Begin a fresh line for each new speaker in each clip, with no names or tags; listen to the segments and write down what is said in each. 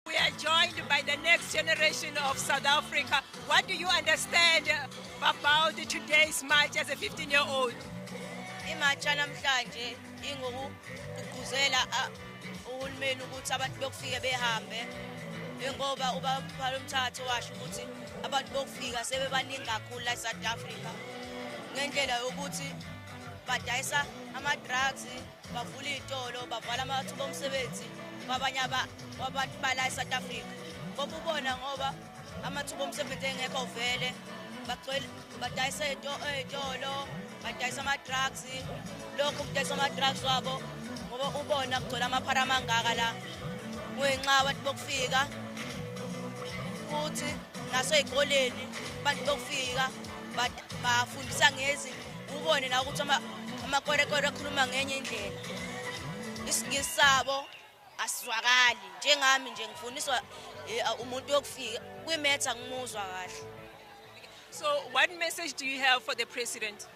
We are joined by the next generation of South Africa. What do you understand about today's march as a 15 year old? imatsha
namhlanje ingokugquzela uhulumeni ukuthi abantu bokufike behambe ngoba ubaphala umthatho washo ukuthi abantu bokufika sebebaningi kakhulu la south africa ngendlela yokuthi badayisa ama-drugs bavula iy'tolo bavala amathuba omsebenzi kwabanye abantu bala e-south africa koba ubona ngoba amathuba omsebenzi engekho vele badayisa ey'tolo badayisa ama-drugs lokhu kudayisa ama-drugs wabo ngoba ubona kugcwele amaphara amangaka la kungenxa abantu bokufika futhi nasey'koleni abantu bokufika bafundisa ngezinto ubone nawe ukuthi amakwerekwere akhuluma ngenye indlela isingisi sabo asizwakali njengami nje ngifundiswa eh, umuntu yokufika kwimetha ngimuzwa kahle so
what message do you have for the president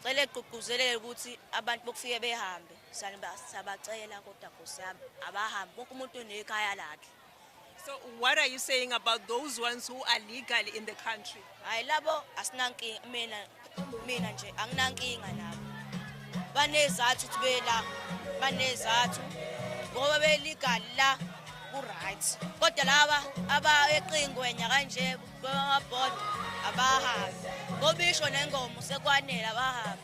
cela
egqugquzelele ukuthi abantu bokufike behambe siyabacela kodwa nkosi yami abahambe wonke umuntu unekhaya lakhe So
what are you saying about those ones who are legal in the country? Hayi labo
asinankinga mina mina nje anginankinga nabo. Banezathu ukuthi bela banezathu ngoba be legal la ku right. Kodwa laba abayeqingwenya kanje bama board abahambi. Ngobisho nengoma sekwanele abahambi.